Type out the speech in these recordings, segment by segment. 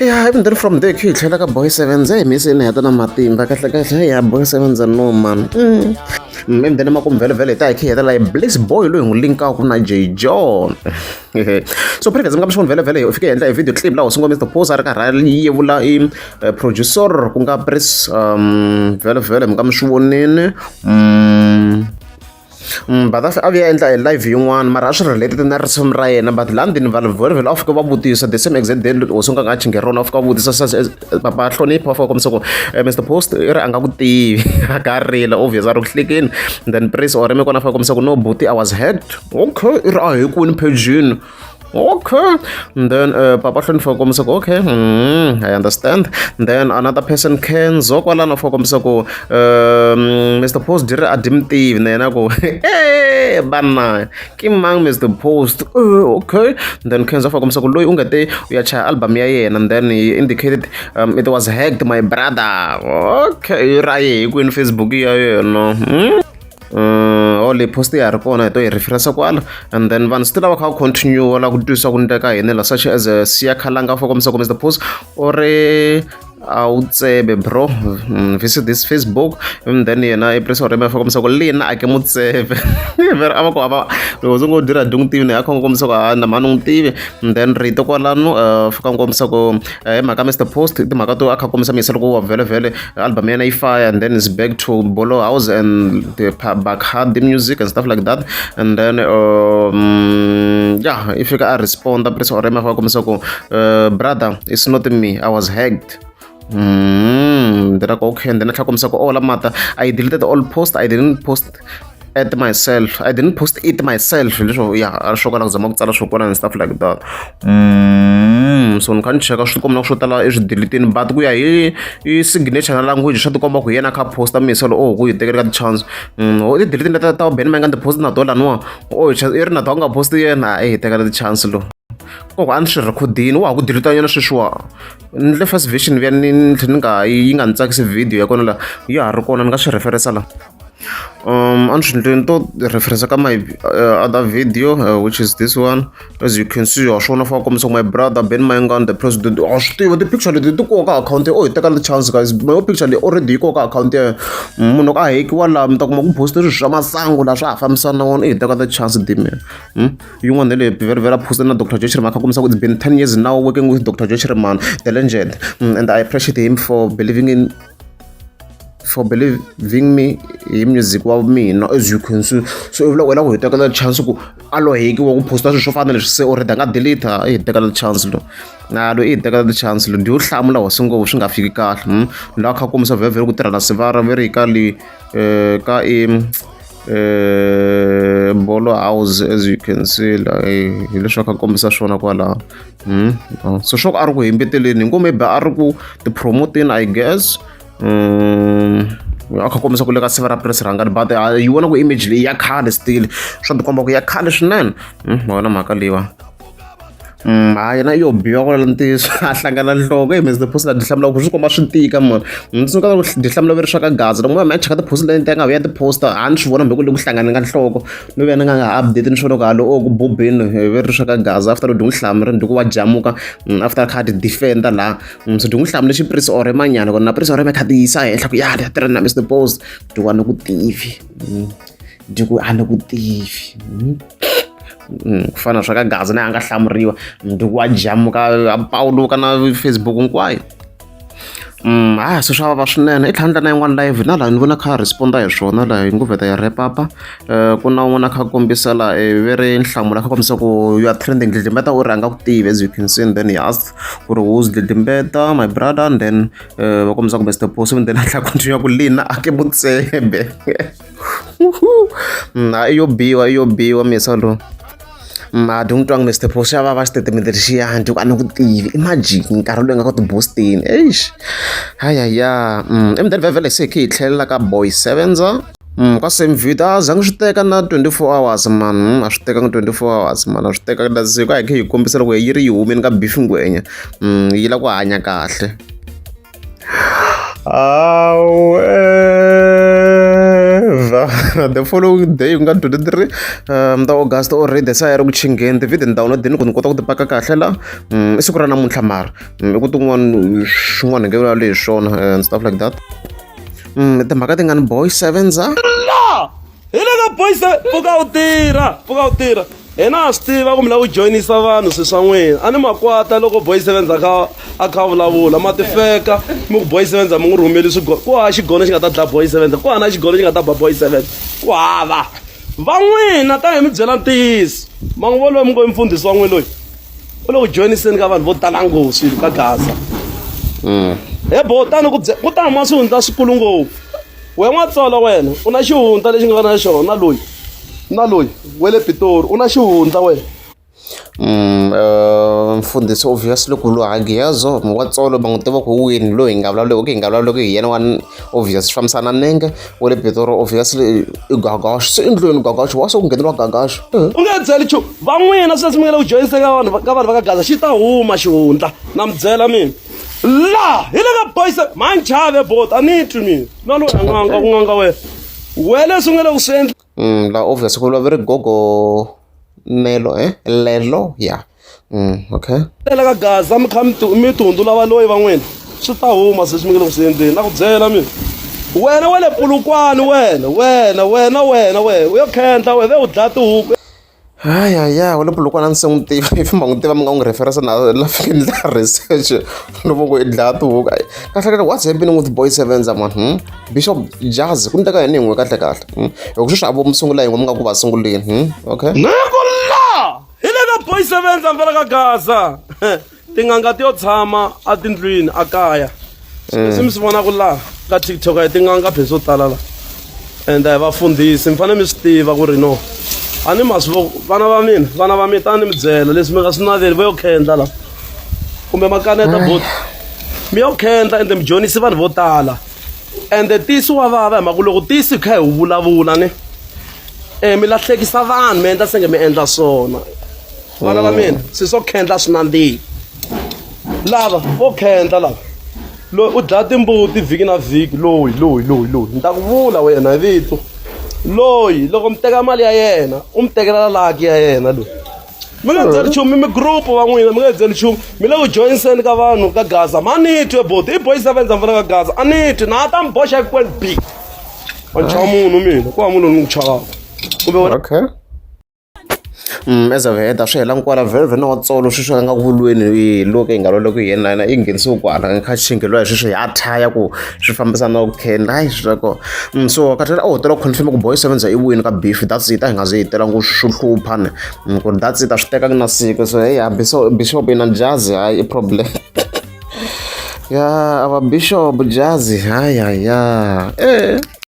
ya even then from there khe hi tlhela ka boy sevens hi mi se ni heta na matimba kahle kahle ya boy sevens no man mme then makumvhelovhelo hi ta hi khe hi heta layi bliss boy loyi hi n'wi linkaka na j john so previous mi nga mi swi vhelovhelo hi fike hi endla hi video clip laha sungula mr pose a ri karhi a yevula i eh, producer ku nga pris um vhelovhelo mi nga mi swi vonini mm. Badasa a vuya endla e live yin'wana mara a swi related na risimu ra yena but laha ndini vanhu vo rivele a fika va vutisa the same exact day hosi nga nga chinge rona a fika va vutisa sa papa hlonipha va fika kombisa ku eh, mr post i ri a nga ku tivi a ka rila obvious a ri ku hlekeni then prince or mi kona a fika kombisa ku no buti i was hacked okay i ri a hi kwini phejini okay and then uh, papa hloni for kombisa ku okay mm, i understand and then another person can zo kwalano for kombisa ku um, mr post dire a dimtivi na yena ku e banna ki mang mr post uh, okay and then kenzo for kombisa ku loyi u nga te u ya chaya album ya yena and then he indicated um, it was hacked my brother okay ra ye hi kwini facebook ya yena mm? uh, or leyi post ya ha ri kona hi to yi referensa kwala and then vanhu swi ti lava kha va continue la ku twisisa ku niteka hini la such as uh, siya khalanga for kombisa kombisa the post or a wu tsebe bro mm, visit this facebook and then yena i press orema fa kombisa ku le yena a ke mu tsebe vero a va ku hava loko ndzi ngo dira dyi n'wi tivi ni a kha n'wi kombisa ku ha na mhani n'wi tivi and then rito kwalano uh, fika n'wi kombisa ku hi mhaka Mister Post i timhaka to a kha kombisa misa loko wa vhelovhelo album ya yena yi fire and then is back to Bolo House and the Bakhad the music and stuff like that and then um, yeah i fika a responda Prince Orema fa kombisa ku uh, brother it's not me I was hacked mm, then I go okay and then I try kombisa ku all oh, mata I deleted all post I didn't post at myself i didn't post it myself leswo ya swo kala ku zama ku tsala swo kona and stuff like that mm, so ni kha ni cheka swi tikomba na swo tala eswidelitini but ku ya hi hi signature na language swa tikomba ku yena kha posta miselo o oh, ku yi tekeleka tichance mm, o oh, tidelitini leta ta ubeni ma yi nga ni post na to laniwa o oh, i ri na to a nga posti yena a yi tekela tichance lo koko a ni swi rhekhodini wa ha ku dilita yona sweswiwa ni le first vision vuya ni tlhe ni nga yi nga ni tsakisi video ya kona la ya ha ri kona ni nga swi referisa la um unfortunately to reference ka my uh, other video uh, which is this one as you can see wasvona fa kombisa my brother ben mayengan the president wa swi tiva ti-picture leti ti koka akhawunti o hi teka the chance guys my picture leyi already yi koka akhawunti ya munhu ka hekiwa laha mi ta kuma ku poste swilo swa masangu laha swa ha fambisana na wona i hi teka the chance dime hmm? yin'wana ne leyi very very poste na dr joshreman kha kombisa ku it's been ten years now working with dr joshreman the legend hmm, and i appreciate him for believing in for believing me hi music wa mina as you can see so i vula ku hela ku hi tekela chance ku a loheki wa ku posta swilo swo fana na leswi se u ri da nga delete i hi tekela chance lo na lo i hi tekela chance lo ndi yo hlamula wasi ngo swi nga fiki kahle hmm? la kha kombisa vhevhele ku tirha na sivara ve ri ka le eh, ka i eh, bolo house as you can see la eh, hi leswi a kha kombisa swona kwalaho Hmm, oh, so swa ku a ri ku hembeteleni hi ngo maybe a ri ku tipromoteni i guess um a kha kombisa ku le ka siva ra press rhangani but ah, yi vona ku image leyi ya khale still swa tikomba ku ya khale swinene hmm, ma wona mhaka leyiwa hmm, hayi na yo biwa ku lala ntiyiso a hlangana nhloko hi mhezi tiphosi la dihlamula ku swi komba swi tika mona ndzi ka dihlamula veri swa ka gaza loko ma ma cheka tiphosi leti nga ya tiposta a ni swi vona mbe ku le ku hlangane ka nhloko ni vona nga nga update ni swo loko halo o ku bubeni ve ri sweka gaza after dhi n'wi hlamu ri ni dhi ku wa jamuka mm, after kha ti defender la mm, so dhi n'wi hlamu lexi prisi ore manyana kona na prisi ore me kha ti yisa henhla ku ya ya tirha na mr post dhi wa ni ku tivi mm, dhi ku a ni ku tivi ku fana sweka gaza na a nga hlamuriwa dhi ku wa jamuka a pawuluka na facebook hinkwayo A swi swa vava swinene i tlhandla na yin'wana live na laha ni vona kha a respond-a hi swona laha yi ngo vheta yi wrap up-a ku na un'wana a kha a kombisa laha i ve ri nhlamulo a kha kombisa ku you are trending dlidlimbeta u ri a nga ku tivi as you can see and then he asked ku ri who's dlidlimbeta my brother and then va kombisa kumbe step four seven then a tlhela a continue ku lina a ke mutsebe. Mm, hayi yo biwa yo biwa misa lowu mati mm, n'wi twa ngi mr pro xa va va xitatimende lexiyani ku a ni ku tivi i majiki nkarhi loyi nga ka tibosteni eish hayaya mm, emdeni vhevhele se khe hi tlhelela ka boy sevenza Mm, ka same video a zange swi teka na 24 hours man mm, a swi tekanga 24 hours man a swi teka na siku a hi khe hi kombisa loko yi ri yi humeni ka beef ngwenya mm, yi la ku hanya kahle However, the following day ku nga 23 um, ta August already se a ya ri ku chingeni ti-video ni download ni ku ni kota ku ti paka kahle la um, i siku ra namuntlha mara um, i ku tin'wana swin'wana hi nge vulavuli hi swona and stuff like that um, timhaka ti nga ni boy sevens a hi le ka boys pfuka u tirha pfuka u tirha hina ha swi tiva ku mi lava ku joyinisa vanhu swi swa n'wina a ni makwata loko boy sevenz a kha a kha vulavula ma tifeka mi ku boy sevenz a mi n'wi rhumeli swigono ku hava xigono xi nga ta dlaya boy sevenz ku hana xigono xi nga ta ba boy sevenz ku hava va n'wina ta hi mi byela ntiyiso ma n'wi voloyi mi ngo i mfundhisi wa n'wi loyi u le ku joyiniseni ka vanhu vo tala nghozi ka gaza mm. he bo tani ku byela ku ta huma swihundla swikulu ngopfu we n'watsolo wena u na xihundla lexi nga na xona na loyi na loyi we le pitori u na xihundla wena mm, eh, mfundhisi obvious loko luhangi yazo mwatsolo va n'wi tiva ku wini loyi hi nga vulavuleki hi nga vulavuleki hi yena wa obvious swi fambisana nenge wa le pitori obviously i gagaxo se endlweni gagaxo wa se ku ngheneriwa gagaxo eh. u nga byeli chu van'wina sweswi mi nga le ku joyiseka vanhu ka vanhu va ka gaza xi ta huma xihundla na mi byela mina la hi le ka boys manjave bot a ni twi mina na loyi anganga ku nganga wena we leswi nga le ku swi endla mm, la obvious ku vulavuri gogo nelo eh lelo ya yeah. mm, okay lela ka gaza mi kha mi tihundzula valoyi va n'wina swi ta huma se swi mi nga le ku swi endleni na ku byela mina wena wa le pulukwani wena wena wena wena wena u yo khendla wena ve u dlaya tihuku Hayaya walapo loko a ndzi se n'wi tiva if i mhaka n'wi tiva mi nga n'wi reference na la fika ni endla research ni loko ku i dlaya tihuku a kahlekahle what's happening with boy sevenza mani bishop jazz ku ndleka yini hi n'we kahle kahle hi ku sweswi a vo mi sungula hi n'we mi nga ku va sunguleni okay ni ku la hi le ka boy sevenza mpela ka gaza tin'anga ti yo tshama atindlwini a kaya leswi mi swi vonaka laha ka tiktok a hi tin'anga phe swo tala laha and a hi vafundhisi mi fanele mi swi tiva ku ri no a ni masi vo vana va mina vana va mina tani ni mi byela leswi mi nga swi naveli vo yo khendla laha kumbe makaneta boti mi yo khendla ende mi dyonisi vanhu vo tala ende tisi wa vava hi mhaka ku loko tisi hi kha hi wu vulavula ni um mi lahlekisa vanhu mi endla senge mi endla swona vana va mina se swo khendla swi nandzihi lava vo khendla lava loyi u dlaya timbuti vhiki na vhiki loyi loyi loyi loyi ni ta ku vula wena hi vito loyi loko mi teka mali ya yena u mi tekela laki ya yena loyi mi nga byeli nchumu mi group va n'wina mi nga byeli nchumu mi le ku joyiseni ka vanhu ka gaza ma ni twe boti i boyisa vendza mpfula ka gaza a ni twi na ta mi boxa ekweli b wa chava munhu mina ku va munhu ni n'wi chavaka kumbe okay As a heta swi hela kwala very very na vatsolo sweswi va nga ku vulweni hi lo ka yi nga loloki hi yena yena yi nghenisiwe kwala kha xinge loyi sweswi hi athaya ku swi fambisana na vukheni hayi swi swa kona mm, so kathela a wu tela confirm ku boy sevenza i wini ka beef that's it a hi nga ze hi tela ngo swi hlupha ni mm, ku ri that's it a swi tekanga na siku so heyi ha bishop bishop yi na jazi hayi i problem ya ava bishop jazi hayi hayi ya e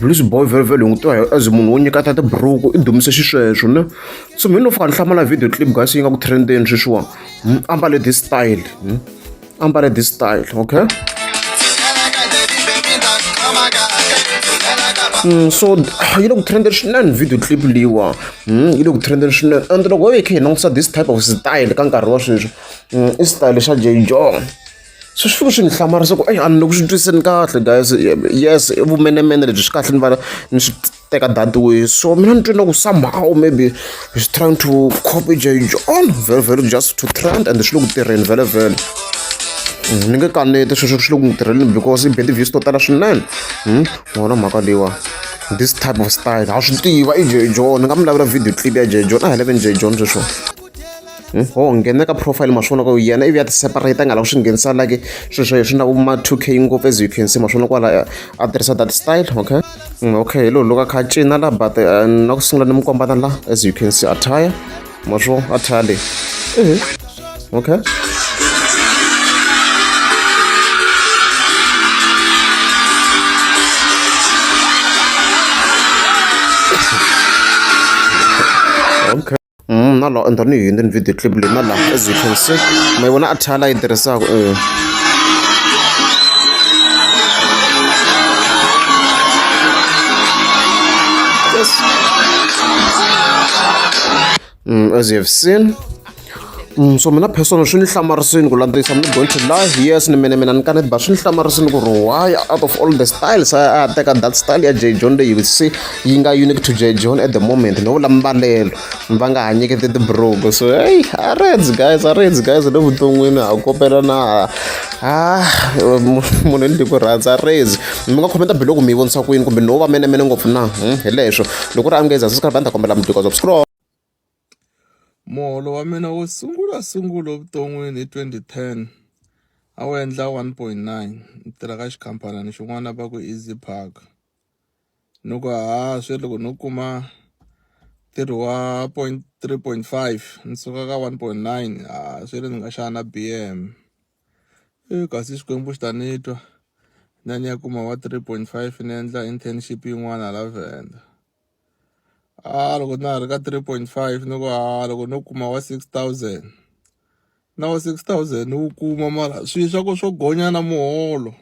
Blues boy vhelovhelo hi n'wi tiva as munhu wo nyikata tiburuku i dumise xisweswo ne so mhini no fika ni hlamala video clip guys yi nga ku trendeni sweswiwani hmm, ambale this style hmm, ambale this style okay hmm, so yi le ku trendeni swinene video clip leyiwa yi le ku trendeni swinene and loko ho yi kha hi langutisa this type of style ka nkarhi wa sweswi i style xa jay john so swi fike swi ni hlamarisa ku eyi a ni le ku swi twiseni kahle guys yes i vumenemene lebyi swi kahle ni va ni swi teka datiwe so mina ni twe na ku somehow maybe he's trying to copy j john very very just to trend and swi le ku tirheni vele vele hmm, ni nge kaneti sweswo swi le ku n'wi tirheleni because i beti views to tala swinene hmm, wona mhaka leyiwa this type of style ha swi tiva i j john ni nga mi lavela video clip ya j john a hi leveni j john sweswo hmm? o oh, nghena ka profile ma swi vona ka u yena ivi ya ti-separate a nga lava swi nghenisa like swilo swa swi na ma two k ngopfu as you can see ma swi vona kwala a tirhisa that style okay hmm, okay hi loko a kha a cina la but eh, na ku sungula ni mi kombana la as you can see attire ma swi vona attire leyi hmm. okay Mm, na laha endla ni yi endleni video clip leyi na laha as you can see ma yi vona a thala yi tirhisaka um yes mm, as you have seen Mm, so mina personal swi ni hlamarisini ku landzisa mi going to live yes ni mene mina ni kanete ba swi ni hlamarisini ku ri why out of all the styles a a teka that style ya j john leyi se yi nga unique to j john at the moment no vula mbalelo va nga ha nyikete tibrogo so hey a reds guys a reds guys le vuton'wini ha kopela na ha munhu ni tiku rhandza reds mi nga khomenta biloko mi yi vonisa kwini kumbe no va mene mene ngopfu na hmm, hi leswo loko ri amngeza sisikarbanda kombela mudikazo scroll Muholo wa mina wo sungula sungula evuton'wini hi twenty ten a wu endla one point nine ni tirha ka xikhampani xin'wana va ku easy park ni ku ha swe loko no kuma ntirho wa point three point five ni suka ka one point nine ha swe le ni nga xana na B_M i kasi xikwembu xi ta ni twa na ni ya kuma wa three point five ni endla internship yin'wana hala Venda. a loko na ha ri ka three point five ni ku a loko no kuma wa six thousand na wa six thousand ni wu kuma mara swilo swa ku swo gonya na muholo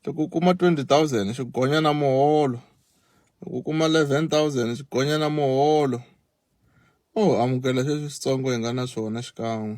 loko u kuma twenty thousand swi gonya na muholo loko u kuma eleven thousand swi gonya na muholo o amukela sweswi switsongo hi nga na swona xikan'we.